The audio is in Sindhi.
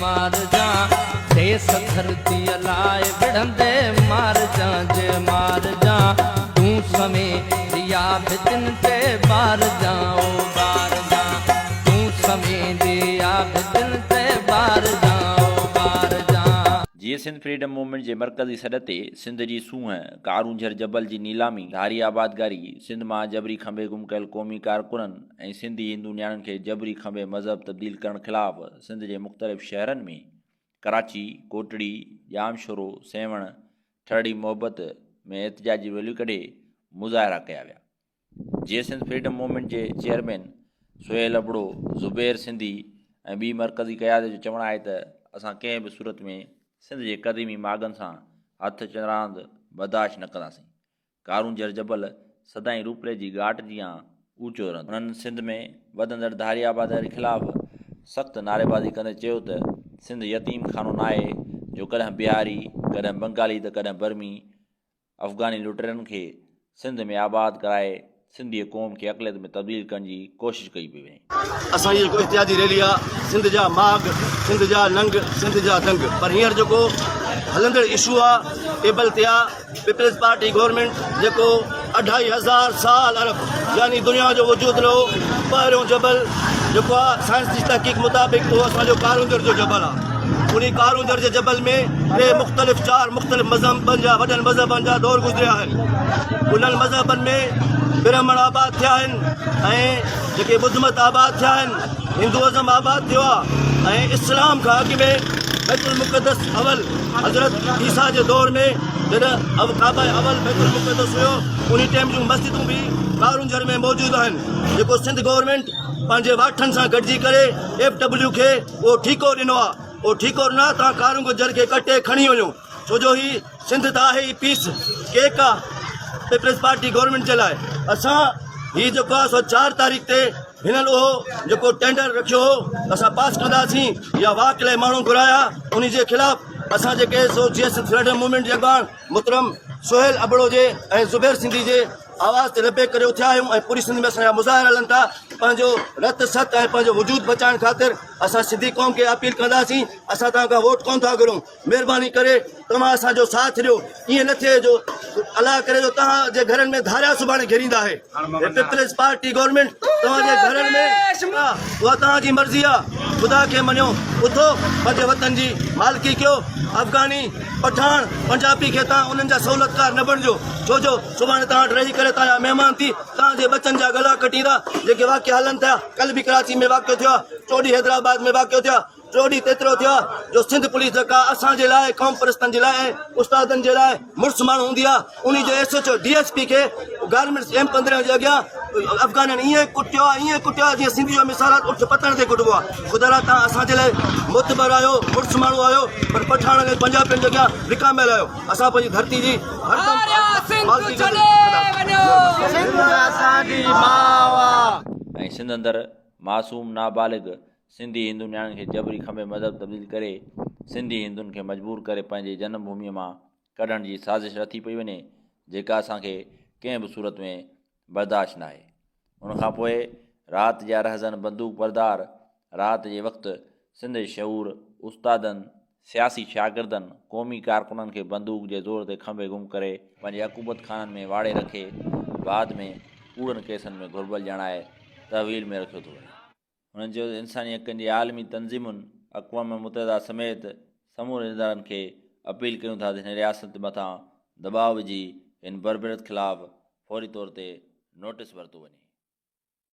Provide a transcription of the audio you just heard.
مارجان ديس ڌرتيء لاء وڙهندي مارجان جي مارجان تون سوين ڏيا ڀتين تي ٻارجان او ٻارجان تون سوين ڏيا ڀتين تي ٻارجان او ٻارجان. جيئي سنڌ فريڊم موومينٽ جي مرڪزي سڏ تي سنڌ جي سونهن، ڪارونجهر جبل جي نيلامي، ڌاري آبادگاري، سنڌ مان جبري کنڀي گم ڪيل قومي ڪارڪنن ۽ سنڌي هندو نياڻين کي جبري کنڀي مذهب تبديل ڪرڻ خلاف سنڌ جي مختلف شهرن ۾ ڪراچي، ڪوٽڙي، ڄام شورو، سيوهڻ، ٺرڙي محبت ۾ احتجاجي ريليون ڪڍي مظاهرا ڪيا ويا. جي سنڌ فريڊم موومينٽ جي چيئرمين سهيل ابڙو، زبير سنڌي ۽ ٻي مرڪزي قيادت جو چوڻ آهي ته اسان ڪنهن به صورت ۾ سنڌ جي قديمي ماڳن سان هٿ چراند برداشت نه ڪنداسين. ڪارونجهر جبل سدائين روپڙي جي ڳاٽ جيان اوچو رهندو. هنن سنڌ ۾ وڌندڙ ڌاري آباديء خلاف سخت نعريبازي ڪندي چيو ته سنڌ يتيم خانو ناهي جو ڪڏهن بهاري، ڪڏهن بنگالي ته ڪڏهن برمي، افغاني لٽيرن کي سنڌ ۾ آباد ڪرائي سنڌي قوم کي اقليت ۾ تبديل ڪرڻ جي ڪوشش ڪئي پئي وڃي. اسان جي هڪ احتجاجي ريلي آ سنڌ جا ماڳ سنڌ جا ننگ سنڌ جا دنگ پر هينئر جيڪو هلندڙ اشو آ ايبل تي آ پيپلز پارٽي گورنمينٽ جيڪو اڍائي هزار سال عرب يعني دنيا جو وجود لهو پهريون جبل جيڪو آ سائنس جي تحقيق مطابق اهو اسان جو ڪارونجهر جو جبل آ. انهي ڪارونجهر جي جبل ۾ ٽي مختلف چار مختلف مذهبن جا وڏن مذهبن جا دور گذريا آهن انهن مذهبن ۾ برهمڻ آباد ٿيا آهن ۽ جيڪي ٻڌ مت آباد ٿيا آهن هندوازم آباد ٿيو آهي ۽ اسلام کان اڳ ۾ بيت المقدس اول حضرت عيسيٰ جي دور ۾ جڏهن اب ڪعبه اول بيت المقدس هيو انهي ٽائيم جون مسجدون به ڪارونجهر ۾ موجود آهن جيڪو سنڌ گورنمينٽ پنهنجي واٺن سان گڏجي ڪري ايف ڊبليو کي اهو ٺيڪو ڏنو آ اهو ٺيڪو ڏنو آ توهان ڪارون گجر کي ڪٽي کڻي وڃو ڇو جو هي سنڌ ته آهي ئي پيس ڪيڪ آ پيپلز پارٽي گورنمينٽ جي لاء اسان هي جيڪو آ سو چار تاريخ تي هنن اهو جيڪو ٽينڊر رکيو هو اسان پاس ڪنداسين يا واڪ لاء ماڻهو گهرايا انهي جي خلاف اسان جيڪي سو J S F freedom movement جي اڳواڻ محترم سهيل ابڙو جي ۽ زبير سنڌي جي آواز تي لبيڪ ڪري اٿيا آهيون ۽ پوري سنڌ ۾ اسان جا مظاهرا هلن ٿا پنهنجو رت ست ۽ پنهنجو وجود بچائڻ خاطر اسان سنڌي قوم کي اپيل ڪنداسين اسان توهان کان ووٽ ڪون ٿا گهرون مهرباني ڪري توهان اسان جو ساٿ ڏيو ائين نه ٿئي جو الله ڪري جو توهان جي گهرن ۾ ڌاريا سڀاڻي گهريندا هي پيپلز پارٽي گورنمينٽ توهان جي گهرن ۾ آ اها توهان جي مرضي آ خدا کي مڃو اٿو پنهنجي وطن جي مالڪي ڪيو افغاني پٺاڻ پنجابي کي توهان انهن جا سهولتڪار نه بڻجو ڇو جو سڀاڻي توهان وٽ رهي ڪري توهان جا مهمان ٿي توهان جي ٻچن جا ڳلا ڪٽيندا جيڪي واقعا هلن ٿيا ڪل به ڪراچي ۾ واقعو ٿيو آ چوڏهين حيدرآباد ۾ واقعو ٿيو آ ٽوڙي تيترو ٿيو آهي جو سنڌ پوليس جيڪا اسان جي لاء قومپرستن جي لاء ۽ استادن جي لاء مڙس ماڻهو هوندي آهي انهي جي S H O D S P کي گارمينٽس ايم پندرهن جي اڳيان افغانن ايئن ڪٽيو آهي ايئن ڪٽيو آهي جيئن سنڌي جو مثالات اٺ پتڻ تي ڪٽبو آهي خدا را توهان اسان جي لاء معتبر آهيو مڙس ماڻهو آهيو پر پٺاڻن ۽ پنجابين جي اڳيان وڪاميل آهيو اسان پنهنجي ڌرتي جي هردم حفاظتي ڪنداسين سنڌي هندو نياڻين کي جبري کنڀي مذهب تبديل ڪري سنڌي هندن کي مجبور ڪري پنهنجي جنم ڀومي مان ڪڍڻ جي سازش رٿي پئي وڃي جيڪا اسان کي ڪنهن به صورت ۾ برداشت ناهي ان کان پوء رات جا رهزن بندوق بردار رات جي وقت سنڌ جي شعور استادن سياسي شاگردن قومي ڪارڪنن کي بندوق جي زور تي کنڀي گم ڪري پنهنجي عقوبت خانن ۾ واڙي رکي بعد ۾ ڪوڙن ڪيسن ۾ گهربل ڄاڻائي تحويل ۾ رکيو ٿو وڃي. هن چيو ته انساني حقن جي عالمي تنظيمن اقوام متحده سميت سمورن ادارن کي اپيل ڪيون ٿا ته هن رياست مٿان دٻاء وجهي هن بربريت خلاف فوري طور تي نوٽيس ورتو وڃي.